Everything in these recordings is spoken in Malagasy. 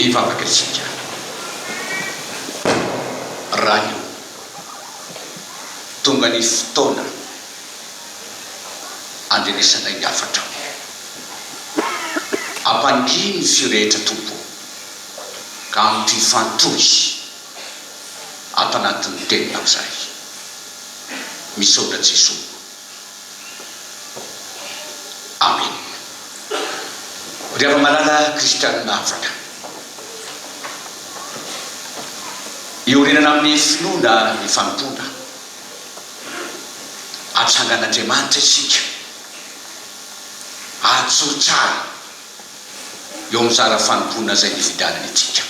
Efa makaisika raha io tonga ny fotoana andrenesana ny hafatra o! Ampangino ny feo rehetra Tompo o! Ka ampifantohy ato anatin'ny teninao izahay. Misaotra Jesoa. Amen! Ry afa-malala kristianina afaka. Iorenana amin'ny finoana ny fanompoana. Atsangan'Andriamanitra isika. Ajoro tsara eo amin'ny zara fanompoana izay nividianany antsika.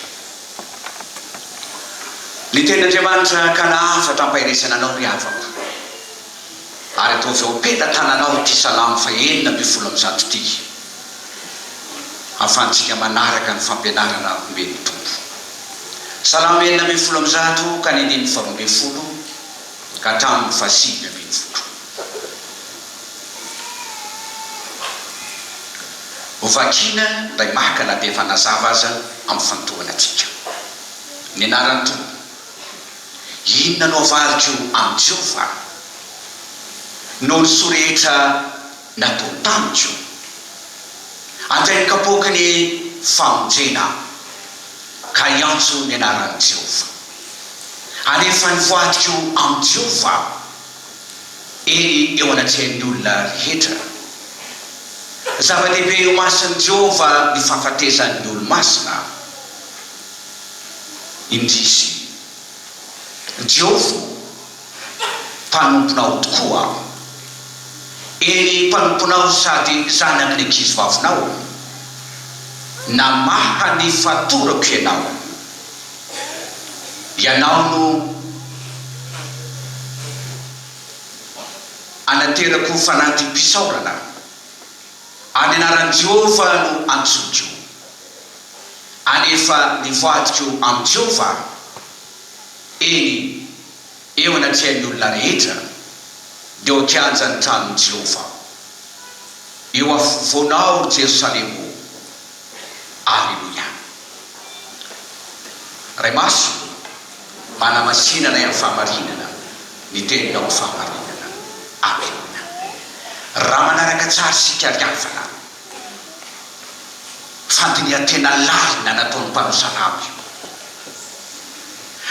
Ny tenin'Andriamanitra ka nahafatra ampahiresana anao ry havako. ary ataovy ao am-pelatananao ity Salamo fahenina ambin'ny folo amby zato ity, hahafahantsika manaraka ny fampianarana omen'ny Tompo. Salamo enina ambin'ny folo amby zato ka ny andininy faharoa ambin'ny folo ka hatramin'ny fahasivy ambin'ny folo. Ho vakiana indray maka na dia efa nazava aza ampifantohana antsika. Ny anaran'ny Tompo. Inona no avaliko amin'izao va? Noho ny soa rehetra natao tamiko? Anjain'ny kapoaky ny famonjena aho, ka hiantso ny anaran'i Jehovah. Halefa ny voadiko amin'i Jehovah aho, eny eo anatrehan'ny olona rehetra. Zava-dehibe eo imason'i Jehovah ny fahafatesany ny olo-masina. indrisy! Jiofo mpanomponao tokoa aho. Eny, mpanomponao sady zanaky ny ankizivavinao. Namaha ny fatorako Ianao. Ianao no anaterako fanadiham-pisaorana. Any anaran'i Jehovah no antsoiko. Alefa nivadiko amin'i Jehovah aho, eny, eo anatrehan'ny olona rehetra, dia ao an-kianjan'ny tranon'i Jehovah aho. Eo afovoanao, ry Jerosalema ô! Aleloia! Ray Masina ô, manamasinanay amin'ny fahamarinana ny Teninao fahamarinana. Amena. Raha manaraka tsara isika ry havana, fandinihan-tena lalina nataon'ny mpanosa lamba io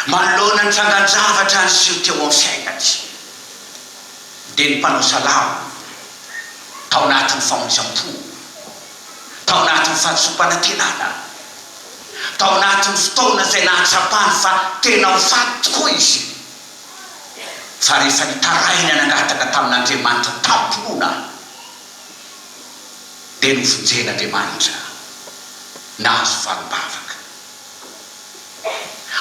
manoloana ny trangan-javatra niseho teo amin'ny fiainany dia ny mpanosa lamba tao anatin'ny famonjam-po, tao anatin'ny fahazoam-panantenana, tao anatin'ny fotoana izay nahatsapany fa tena ho faty tokoa izy fa rehefa nitaraina nangataka tamin'Andriamanitra tamim-pinoana. dia novonjen'Andriamanitra nahazo valim-bavaka.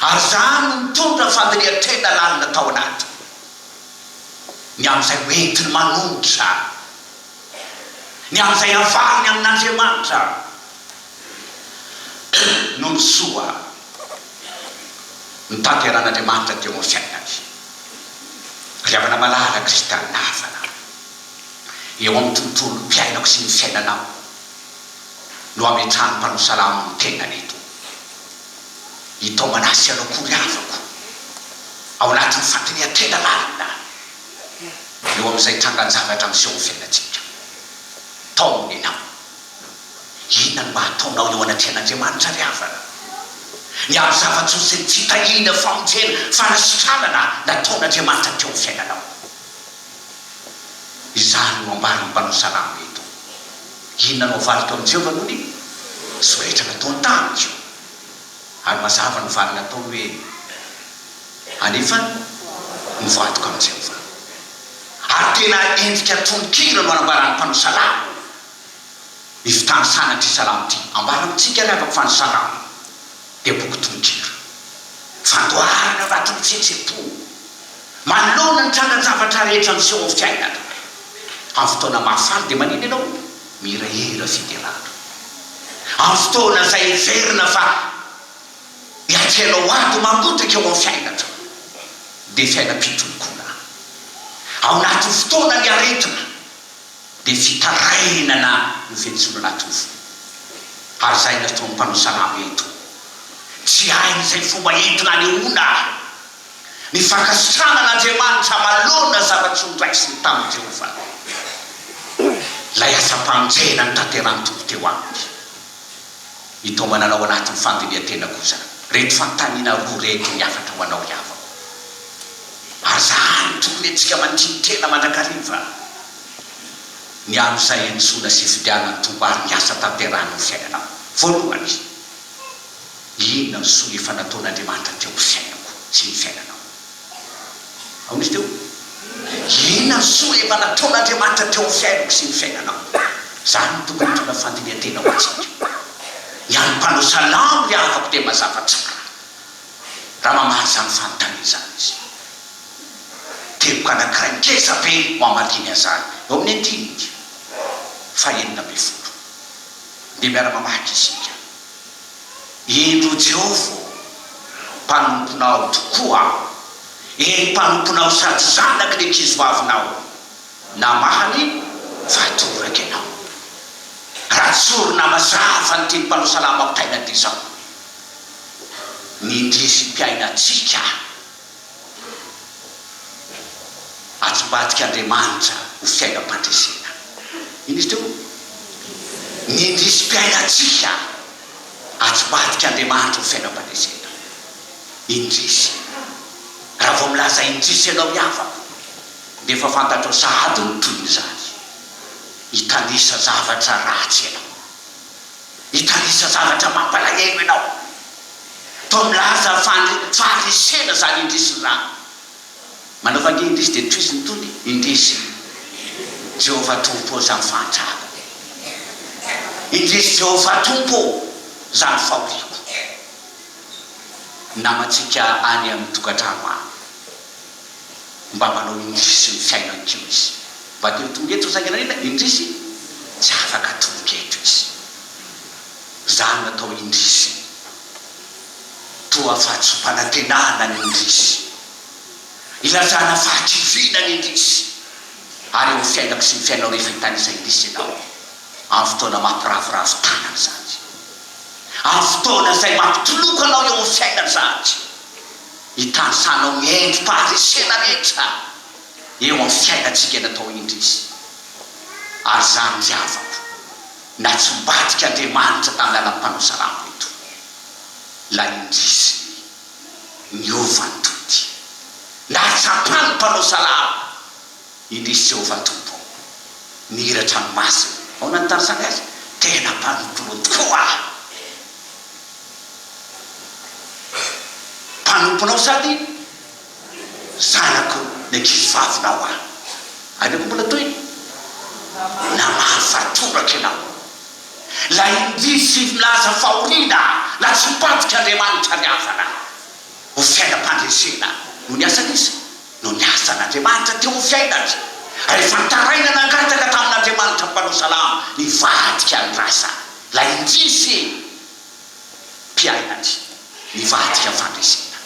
Ary izany no nitondra fandirian-tena lalina tao anatiny, ny amin'izay hoentiny manohitra, ny amin'izay havaliny amin'Andriamanitra noho ny soa notanteran'Andriamanitra teo amin'ny fiainany. Ry havana malala kristiana havana, eo amin'ny tontolom piainako sy ny fiainanao no ametrahan'ny mpanao salamo ny tenany eto. I Tomanas ianao akory havako ao anatin'ny fandiniha tena marina eo amin'izay trangan-javatra miseho amin'ny fiainantsika. Tom nenao. Inona no mba hataonao eo anatrehan'Andriamanitra ry havana? Miaro zava-tsoa sy ny fitahiana, famonjena, fanasitranana nataon'Andriamanitra teo amin'ny fiainanao. Izany no ambaran'ny mpanao salamo eto. Inona no avaliko amin'i Jehovah noho ny soa rehetra nataony tamiko? Ary mazava ny valiny ataony hoe, Anefa mivadika amin'i Jehovah. Ary tena endrika tononkira no anambaran'ny mpanao salamo ny fitanisanan'ity salamo ity. Ambara amintsika ry havako fa ny salamo. dia boky tonon-kira. Fandoharana vato mitsetsepo manoloana ny trangan-javatra rehetra miseho amin'ny fiainana. Amin'ny fotoana mahafaly dia manina ianao? Mihirahira fiderana. Amin'ny fotoana izay heverina fa iantrehanao ady mangotaka eo amin'ny fiainana dia fiainam-pitolokona ao anatin'ny fotoanan'ny aretina. dia fitarainana ny Fenintsombinatovo. Ary izay nataon'ny mpanao salamo eto, tsy hainy izay fomba entina anehoana ny fankasitrahana an'Andriamanitra manoloana ny zava-tsoa noraisiny tamin'i Jehovah, ilay asam-pamonjena notanterahin'ny Tompo teo aminy. Mitaomanana ao anatin'ny fandinihan-tena kosa reto fanontaniana roa reto ny hafatra ho anao ry havako. Aza hany tokony antsika mandinin-tena mandrakariva ny amin'izay antsoina sifidiana ny toba ary ny asa tanterahana amin'ny fiainanao. Voalohany, inona no soa efa nataon'Andriamanitra teo amin'ny fiainako sy ny fiainanao? Aory teo, inona ny soa efa nataon'Andriamanitra teo amin'ny fiainako sy ny fiainanao? Izany no tokony hitondra fandinihan-tena ho antsika. Ny an'ny mpanao salamo ry havako dia mazava tsara raha mamaly izany fanontaniana izany izy. Teboka anankiray ngeza be no hamaliany an'izany, eo amin'ny andininy fahenina ambin'ny folo. Andeha miara-mamaky isika. Indro o Jehovah ô, mpanomponao tokoa aho, eny, mpanomponao sady zanaky ny ankizivavinao, namahany fa toraka ianao. Raha tsorina mazava ny tian'Mpanao salama mpitaina dia izao, Ny indrisy mpiaina antsika. Atsmbadika Andriamanitra ho fiainam-pandresena. Inona izy teo? Ny indrisim-piainantsika. Atsmbadika Andriamanitra ho fiainam-pandresena. Indrisy. Raha vao milaza indrisy ianao ny havako, dia efa fantatrao sahady ny tohin'izany. Hitanisa zavatra ratsy ianao. Hitanisa zavatra mampalahelo ianao. Toa milaza fa faharesena zany indrisy ny rano. Manao vania indrisy dia tohiziny tony indrisy Jehovah Tompo ô zany fahantrako. Indrisy Jehovah Tompo ô zany fahoriako. Ny namantsika any amin'ny tokantrano any mba manao indrisy ny fiainan-kio izy. Mba te ho tonga eto saingy nanina indrisy tsy afaka tonga eto izy. Zana tao indrisy. Toa fa tsy mpanantenana ny indrisy. Ilazana fahakiviana ny indrisy. Ary eo amin'ny fiainako sy ny fiainao rehefa hitanisa indrisy ianao. Amin'ny fotoana maha mpiravoravo tanana izany. Amin'ny fotoana izay mampitoloko anao eo amin'ny fiainana izany. Hitanisanao ny endri-paharesena rehetra eo amin'ny fiainantsika eto indrisy. Ary izany ry havako. Na tsy mivadika Andriamanitra tamin'ny alalan'ny mpanaosalambo eto, ilay indrisy ny niova ny tody. Nahatsapan'ny mpanaosalamo indrisy Jehovah Tompo, ny hira an-tranomasina. Ahoana ny tanisainy azy? Tena mpanomponao tokoa aho. Mpanomponao sady. Zanako ny ankizivavinao aho. Aina koa mbola tohiny, Namaly fa toraka ianao. Ilay indizy milaza fahoriana na tsimpanoka Andriamanitra ny havana ho fiainam-pandresena no niasany izy no niasa an'Andriamanitra teo amin'ny fiainany ary efa nitaraina nangataka tamin'Andriamanitra mpanao salamo nivadika ny rasa ilay indizy mpiaina aty mivadika ny fandresena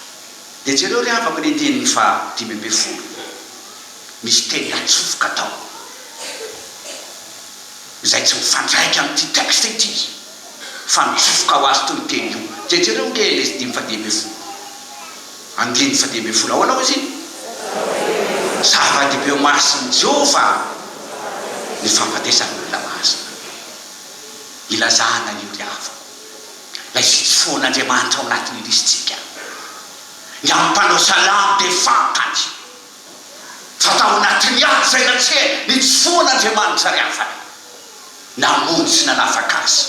de jereo ry havako ny andininy faha dimy ambin'ny folo misy teny atsofoka tao izay tsy mifandraika amin'ity texte ity fa mitsofoka ho azy tony teny io de jereo nge ilay dimy faha dimy ambin'ny folo andininy faha dimy ambin'ny folo ahoana hoy izy iny zava-dehibe eo mason'i Jehovah ny fahafatesan'ny olona masina. Ilazana ny diavolo, ilay fitsifoan' Andriamanitra ao anatin' ny lisintsika. Ny amin' ny mpanao salamo dia fantany fa tao anatin' ny ady izay natseha ny tsifoan' Andriamanitra ry havana. Namonjy sy nanafaka azy.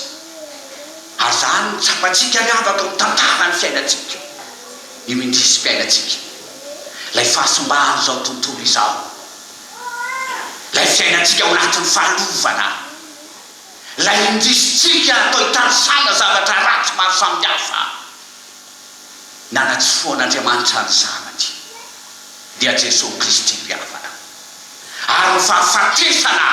Ary izany no tsapantsika ry havana ao amin' ny tantara ny fiainantsika, io indrisim-piainantsika, ilay fahasimban' izao tontolo izao, ilay fiainantsika ao anatin' ny fahalovana. Ilay indisitrika atao hitanisana zavatra ratsy maro samihafa. Nanatsifoan'Andriamanitra ny Zanany, dia Jesoa Kristy mpihavana. Ary ny fahafatesana,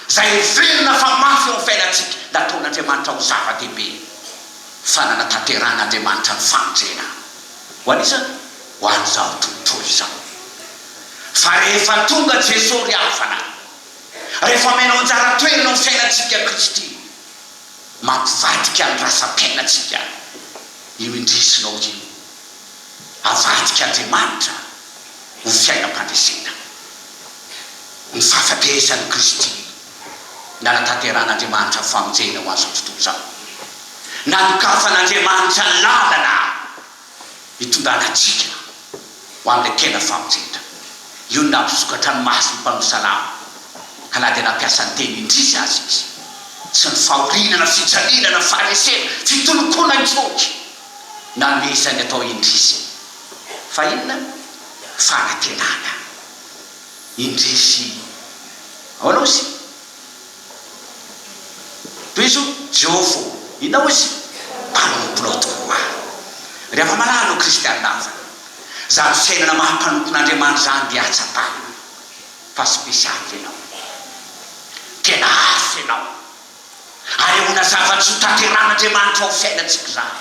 izay heverina fa mafy eo amin'ny fiainantsika, nataon'Andriamanitra ho zava-dehibe, fa nanatanterahan'Andriamanitra ny famonjena. Ho an'iza? Ho an'izao tontolo izao. Fa rehefa tonga Jesoa ry havana. Rehefa omenao anjara toerana ho fiainantsika Kristy, mampivadika ny rasa-piainantsika io indresinao io. Avadika Andriamanitra ho fiainam-pandresena. Ny fahafatesan'i Kristy nanatanterahan'Andriamanitra ny famonjena ho an'izao tontolo izao. Nanokafan' Andriamanitra ny lalana. Hitondrana antsika ho amin'ilay tena famonjena. Io no nampisokatra ny mason'ny Mpanoa Salamo, ka na dia nampiasa ny teny indrisy aza Izy, tsy ny fahoriana na fijaliana na faharesena, fitolokoana an-tsotra, nanome izany atao indrisy, fa inona? Fanantenana indrisy. Ahoana hozy? Tohizo Jehova o! Inona hoy izy? Mpanompo loatiko ho ahy. Ry afa-malala o Kristianina havana, izany fiainana maha mpanompon'Andriamanitra izany dia hatsapany fa spesialy ianao. Tena hafa ianao. Anehoana zava-tsy ho tanterahan'Andriamanitra ao amin'ny fiainantsika izany.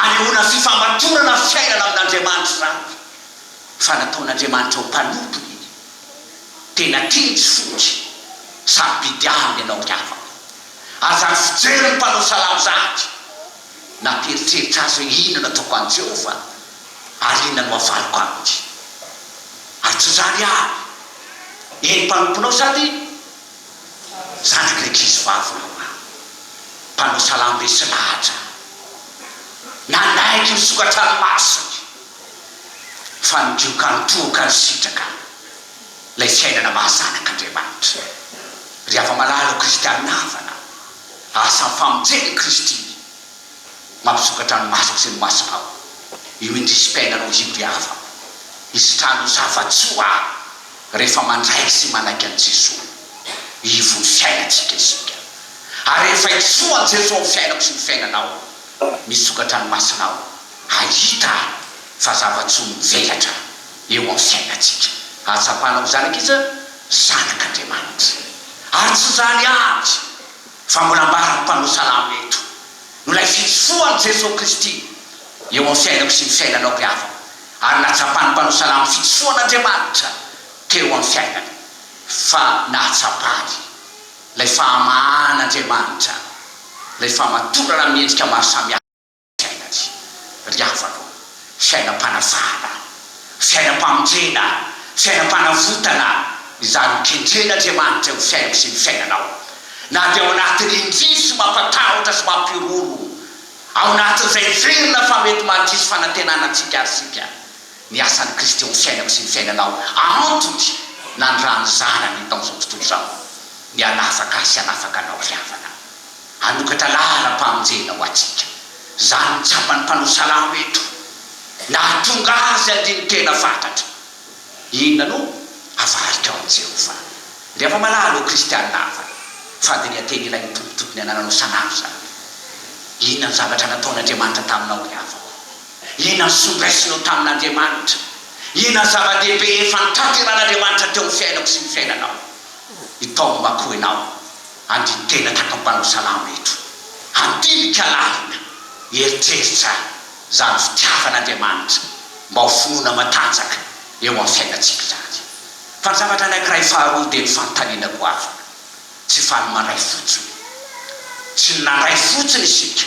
Anehoana fifamatorana fiainana amin'Andriamanitra izany fa nataon'Andriamanitra ho mpanompony. Tena kejy fody sady be diavina ianao ry havako. Aza ny fijery ny mpanao salamo zahatra. Nampieritreritra azy hoe inona no ataoko any Jehovah ary inona no avaliko aminy. Ary tsy izany avy e, ny mpanomponao sady zanak'rankizivavinao hoa mpanao salamo resy lahatra nanaiky ny sokatranomasony fa ny dioka nitohoka nisitraka. lay fiainana maha zanak' Andriamanitra. Ry hava-malala ho kristianina havana, asa ny famonjena i Kristy mampisokatra ny masoko sy ny masonao. Io indrisim-piainana ho io ry havako, hisitrany ho zava-tsoa rehefa mandray sy manaiky an'i Jesoa Ivon'ny fiainantsika isika. Ary rehefa hiseho an'i Jesoa amin'ny fiainako sy ny fiainanao, misokatra ny masonao hahita fa zava-tsoa mivelatra. eo amin'ny fiainantsika. Ahatsapanao izany ankizy a! Zanak' Andriamanitra. Ary tsy izany avy fa mbola ambaran'ny mpanao salamo eto, no ilay fitsofohan'i Jesoa Kristy eo amin'ny fiainako sy ny fiainanao ry havana, ary nahatsapan'ny mpanao salamo fitsofohan'Andriamanitra teo amin'ny fiainany, fa nahatsapany ilay fahamahan'Andriamanitra, ilay fahamatorana amin'ny endrika maro samihafa. Saina tsy ry havana ô! Sainam-panasana, sainam-pamonjena, sainam-panavotana izany hokendren'Andriamanitra ny fiainako sy ny fiainanao. Na dia ao anatin'ny indrisy mampatahotra sy mampihorohoro, ao anatin'izay heverina fa mety mandiso fanantenana antsika aza isika, ny asan'i Kristy eo amin'ny fiainako sy ny fiainanao antony nanirahan'ny Zanany tamin'izao tontolo izao ny hanafaka ahy sy hanafaka anao ry havana. Hanokatra laharam-pamonjena ho antsika. Izany no tsapan'ny mpanao salamo eto. Nahatonga azy andinin-tena fantatra. Inona no avarika ao amin'i Jehovah? Ry afa-malala ô Kristianina hafa, fandinihan-teny ilain'ny Tompo tokony hanananao isan'andro izany hoe, Inona no zavatra nataon'Andriamanitra taminao, ry havako? Inona no soa niraisinao tamin'Andriamanitra? Inona no zava-dehibe efa notanterahan'Andriamanitra teo amin'ny fiainako sy ny fiainanao? Itaomo mako ianao. Andinin-tena tato mpanao salamo eto. Handinika lalina, hieritreritra izany fitiavan'Andriamanitra mba ho finoana matanjaka eo amin'ny fiainantsika izany. Fa ny zavatra anankiray faharoa dia ny fanontaniana goavana. Tsy faly mandray fotsiny. Tsy nandray fotsiny isika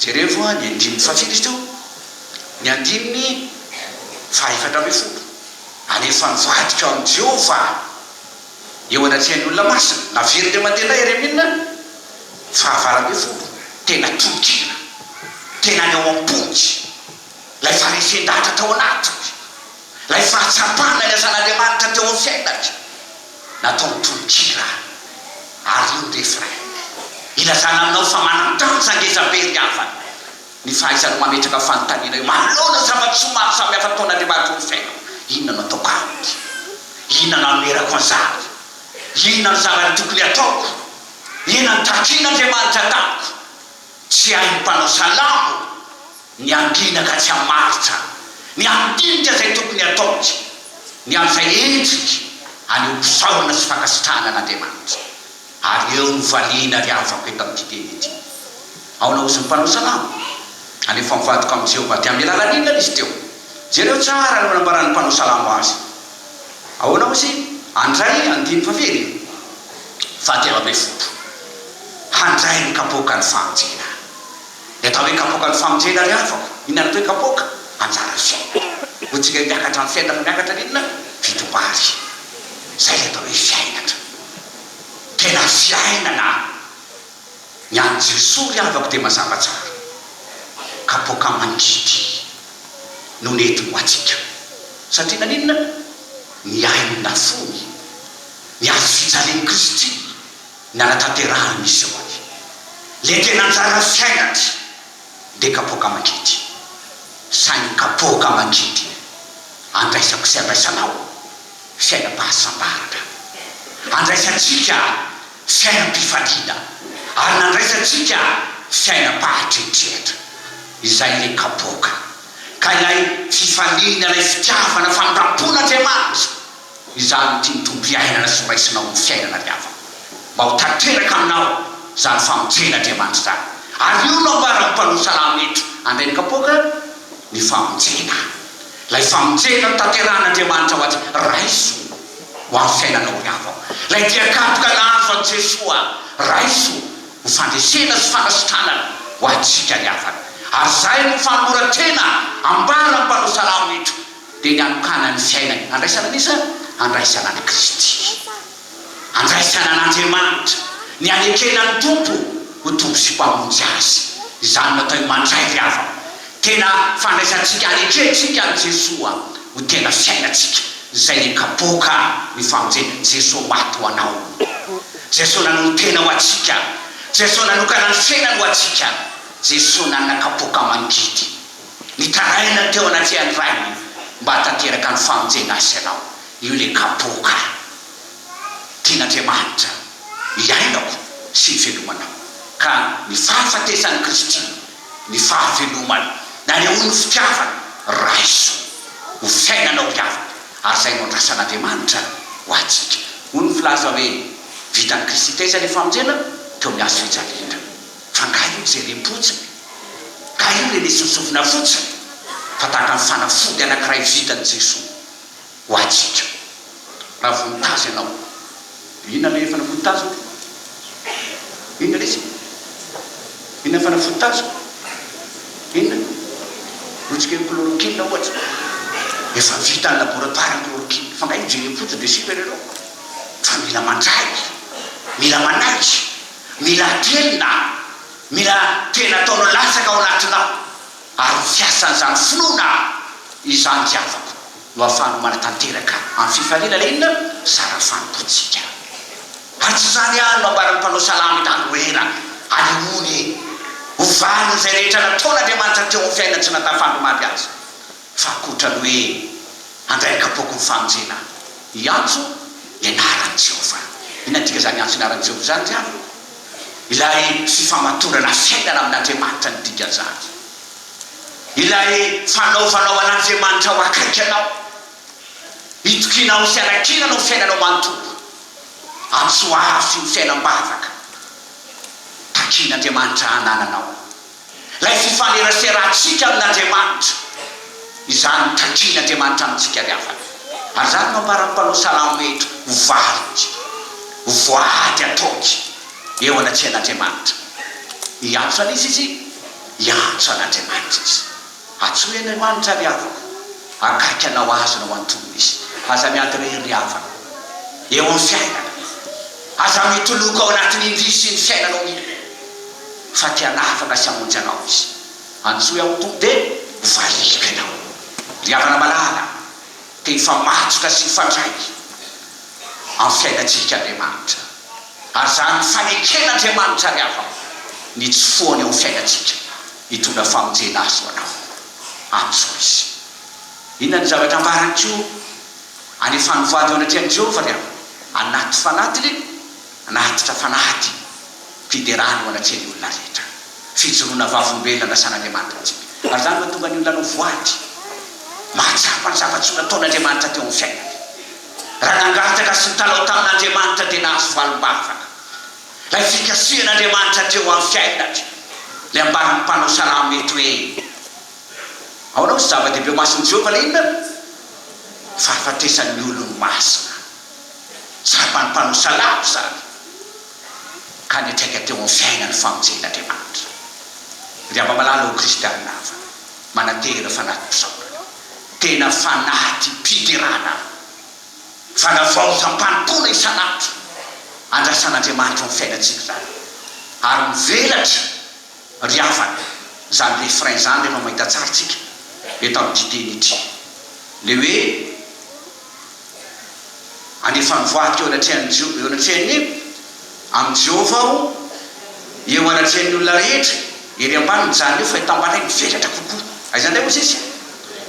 Jerevo ny andininy fahafito izy teo, ny andininy fahaefatra ambin'ny folo. Alefa nivadika ao amin'i Jehovah eo anatrehan'ny olona masina, naveriny teo aman-tena i Jeremia, fahavalo ambin'ny folo. Tena tononkira, tena any ao am-pony ilay faharesen-dahatra tao anatiny, ilay fahatsapana ny asan'Andriamanitra teo amin'ny fiainany. natao ny tononkira ary ny refrain, ilazana aminao fa manan-danja ngeza be ry havana ny fahaizanao mametraka fanontaniana eo manoloana ny zava-tsoa maro samihafa ataon'Andriamanitra eo amin'ny fiainako, inona no ataoko aminy? inona no anoherako an'izany? inona no zavatra tokony hataoko? ena nitakian'Andriamanitra tamiko, tsy hain'ny mpanao salamo. ny andriana ka tsy hamaritra ny handinika izay tokony hataony, ny amin'izay endriny haneho mpisaorana sy fankasitrahana an'Andriamanitra. Ary eo no valiana ry havako eto amin'ity teny ity. Aona ozy ny mpanao salamo? Anefa mivadika amin'i Jehovah. Dia amin'ny alalan'ny inona izy teo? Jereo tsara ireo nambaran'ny mpanao salamo azy. Ahoana ozy? Handray, andininy fahafiry? Fahatelo ambin'ny folo, Handray ny kapoakan'ny fahantsiana. Ny atao hoe kapoaka ny famonjena ry havako. Inona ny atao hoe kapoaka? Anjara fiainana. Ho tsika miakatra ny fiainana fa miakatra ny inona? Fito Bary. Izay ilay atao hoe fiainana. Tena fiainana an! Ny an'i Jesoa ry havako dia mazava tsara. Kapoaka mangidy no nentiny ho antsika. Satria naninona? Ny ainina fony. Ny hazo fijalian'i Kristy. Nanatanterahany ny sehoany, le tena anjara fiainany dia kapoaka aman-kidy. Saingy kapoaka aman-kidy andraisako sy andraisanao fiainam-pahasambarana. Andraisantsika fiainam-pifaliana ary nandraisantsika fiainam-pahatretrehatra. Izay ilay kapoaka, ka ilay fifaliana, ilay fitiavana, famindram-pon'Andriamanitra. Izaho no tian'ny Tompo iainana sy horaisinao ho fiainana avy amiko. Mba ho tanteraka aminao izany famonjen'Andriamanitra izany. Ary io no ambaran'ny mpanao salamo eto, Andriain'ny kapoaka, ny famonjena. Ilay famonjena notanterahan'Andriamanitra ho azy, Raiso ho amin'ny fiainanao ry havako. Ilay dia kapoka nahazo an'i Jesoa, Raiso ho fandresena sy fanasitranana ho antsika ry havana. Ary izay no fanoloran-tena ambaran'ny mpanao salamo eto. Dia ny hanokanan'ny fiainany handraisana an'iza izany? Handraisana an'i Kristy. Handraisana an'Andriamanitra. Ny hanekena ny Tompo ho Tompo sy Mpamonjy azy. Izany no atao hoe mandray ry havana. Tena fandraisantsika, hanekentsika an'i Jesoa ho tena fiainantsika. Izay ny kapoka ny famonjena. Jesoa maty ho anao. Jesoa nanolo-tena ho antsika. Jesoa nanokana ny fiainany ho antsika. Jesoa nanana kapoka mangidy. Nitaraina teo anatrehan'ny rainy mba hahatanteraka ny famonjena azy sy anao. Io ilay kapoaka tian'Andriamanitra hiainako sy hivelomanao. Ka ny fahafatesan'i Kristy, ny fahavelomany, nanehoan'ny fitiavany, raiso ho fiainanao ry havana, ary izay no andrasan'Andriamanitra ho antsika. Hoy ny filaza hoe, Vitan'i Kristy taiza ilay famonjena? Teo amin'ny hazo fijaliana. Fa nga io jerem-potsiny? Nga io rene sosovina fotsiny? Fa tahaka ny fanafody anankiray vitan'i Jesoa ho antsika. Raha vao nitazy anao. Dia inona ilay fanafody taziko? Inona lesy e? Inona fanafody taziko? Inona? Lotsika io chloroquine ohatra. Efa vita any laboratoire ny chloroquine. Fa nga io jerem-potsiny dia super-héros? Fa mila mandraiky. Mila manaiky. Mila atrehina, mila tena ataonao latsaka ao anatinao, ary ho fiasan'izany finoana izany ry havako no ahafahanao manatanteraka amin'ny fifaliana ilay inona? Zara fanompoantsika. Ary tsy izany ihany no ambaran'ny mpanao salamo i Daniela, Alehonia! Ho valin'izay rehetra nataon'Andriamanitra teo amin'ny fiainantsika na tafahandro omaly aza. Fa ankoatra ny hoe handray an-kapoaky ny famonjena hiantso ny anaran'i Jehovah. Inona no dikan'izany hiantso ny anaran'i Jehovah izany ry havana? Ilay fifamatorana fiainana amin'Andriamanitra no dikan'izany. Ilay fanaovanao an'Andriamanitra ho akaiky anao. Itokianao ny fianankinana ho fiainanao manontolo. Antso avo feno fiainam-bavaka takin'Andriamanitra hanananao. ilay fifaneraserantsika amin' Andriamanitra, izany no takin' Andriamanitra amintsika ny havany. Ary izany no ambaran'ny mpanao salamo hoe, Ho valiny, ho voady ataony eo anatrehan' Andriamanitra. Hiantso an' izy izy, hiantso an' Andriamanitra izy. Antsoin'Aimanitra ry havako, akaiky anao azy no antonina izy. Aza miady irery ry havana, eo amin'ny fiainana. Aza mitoloko ao anatin'ny indrisy sy ny fiainanao mihitsy, fa te hanafaka sy hamonjy anao izy. Antsoy aho Tompo dia ho variako ianao. Ry havana malala, te hifamatsotra sy hifandray amin'ny fiainantsika Andriamanitra. Ary izany no faneken'Andriamanitra ry havako, ny tsy foany eo amin'ny fiainantsika. Hitondra famonjena azo ho anao amin'izao izy. Inona no zavatra ambarany koa? Alefan'ny voady eo anatrehan'i Jehovah ry aho, anaty fanatiny, anatitra fanady, fiderana eo anatrehan'ny olona rehetra, fijoroana vavolombelona nasan'Andriamanitra antsika. Ary izany mahatonga ny olona hanao voady, mahatsapa ny zava-tsoa nataon'Andriamanitra teo amin'ny fiainany. Raha nangataka sy nitalaho tamin'Andriamanitra dia nahazo valim-bavaka. Ilay fikasihan'Andriamanitra teo amin'ny fiainany, ilay ambaran'ny mpanao salamo eto hoe, Ahoana moa tsy zava-dehibe eo mason'i Jehovah ilay inona? Ny fahafatesan'ny olony masina. Tsapan'ny mpanao salamo izany, ka niantraika teo amin'ny fiainany ny famonjen'Andriamanitra. Ry amamalala ô Kristianina havana, manantena fanatim-pisaorana, tena fanatim-piderana. Valavao hampanompona isan'andro andrasan'Andriamanitra ao amin'ny fiainantsika izany ary mivelatra ry havana izany refrain izany rehefa mahita tsara tsika eto amin'ity teny ity. Ilay hoe Alefa ny voady teo anatrehan'ny Eo anatrehan'ny. Amin'i Jehovah aho, eo anatrehan'ny olona rehetra, ery ambany mijanona eo, fa eto ambany indray mivelatra kokoa. Aiza indray hozy izy?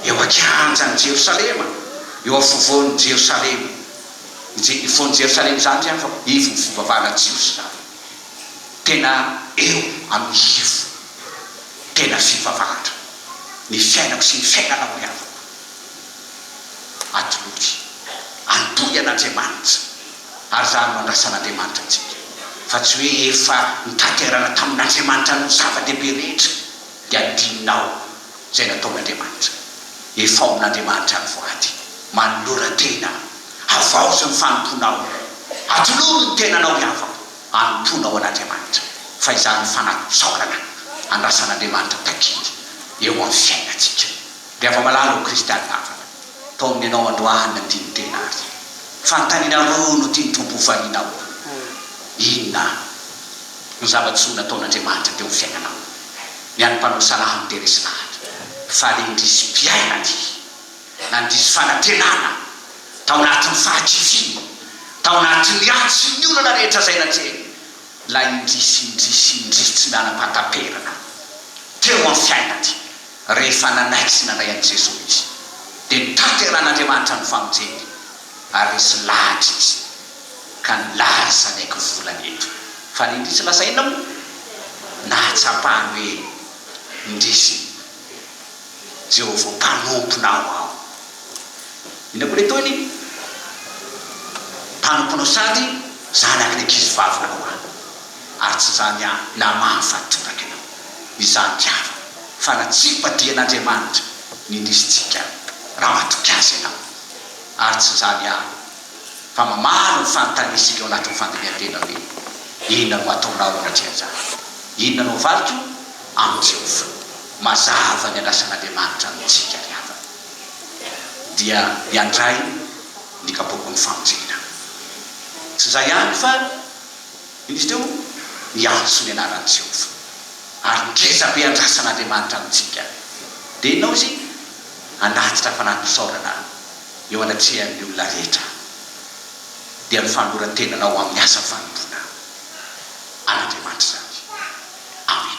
Eo an-kianjan'i Jerosalema, eo afovoan'i Jerosalema. I Je-, ivoan'i Jerosalema izany indray fa ivon'ny fivavahana jiosy izany. Tena eo amin'ny ivo tena fivavahana ny fiainako sy ny fiainanao ry havako. Atolory, antohy an'Andriamanitra. Ary izany no andrasan'Andriamanitra antsika, fa tsy hoe efa notanterana tamin'Andriamanitra ny zava-dehibe rehetra dia adinonao izay nataon'Andriamanitra. Efaomin'Andriamanitra ny voady, manolora tena, havaozo ny fanompoanao, atolory ny tenanao hiavao, anompoana ho an'Andriamanitra, fa izany no fanatsaorana andrasan'Andriamanitra takiany eo amin'ny fiainantsika. Dia afa-malala ho kristianina hafana tao amin'ny anao androany ny tian'ny tena ary fanontaniana roa no tian'ny Tompo ho varianao, Inona no zava-tsoa nataon'Andriamanitra teo amin'ny fiainanao? Ny an'ny mpanao salamo dia resy lahatra fa rindr'isy mpiaina ty nandiso fanantenana tao anatin'ny fahakiviana, tao anatin'ny ady sy ny olana rehetra izay natrehiny, ilay indrisy indrisy indrisy tsy nanam-pahataperana teo amin'ny fiaina ty. Rehefa nanaiky sy nandray an'i Jesoa izy, dia notanterahin'Andriamanitra ny famonjeny, ary nisy lahatra izy, ka nilaza ny haiko volany eto. Fa ny indrisy lasa inona moa? Nahatsapany hoe indrisy Jehovah Mpanomponao aho. Inona koa ilay tohiny? Mpanomponao sady zanaky ny ankizivavinao aho. Ary tsy izany ihany, na maro fa toraka ianao, izany diavina, fa natsipandrian'Andriamanitra ny indrisitsika raha matoky Azy ianao. Ary tsy izany ihany, fa mamaly ny fanontaniantsika ao anatin'ny fandinihan-tena hoe, Inona no ataonao anatreha an'izany? Inona no avaliko amin'i Jehovah? Mazava ny andrasan'Andriamanitra amintsika ry havana. Dia miandray ny kapoakon'ny famonjena. Tsy izay ihany fa. Izy teo miantso ny anaran'i Jehovah, ary ngeza be andrasan'Andriamanitra amintsika. Dia inona hoy izy? Hanatitra fanati-pisaorana aho eo anatrehan'ny olona rehetra, dia ny fanoloran-tenana ho amin'ny asa fanompoana an'Andriamanitra izany. Amena.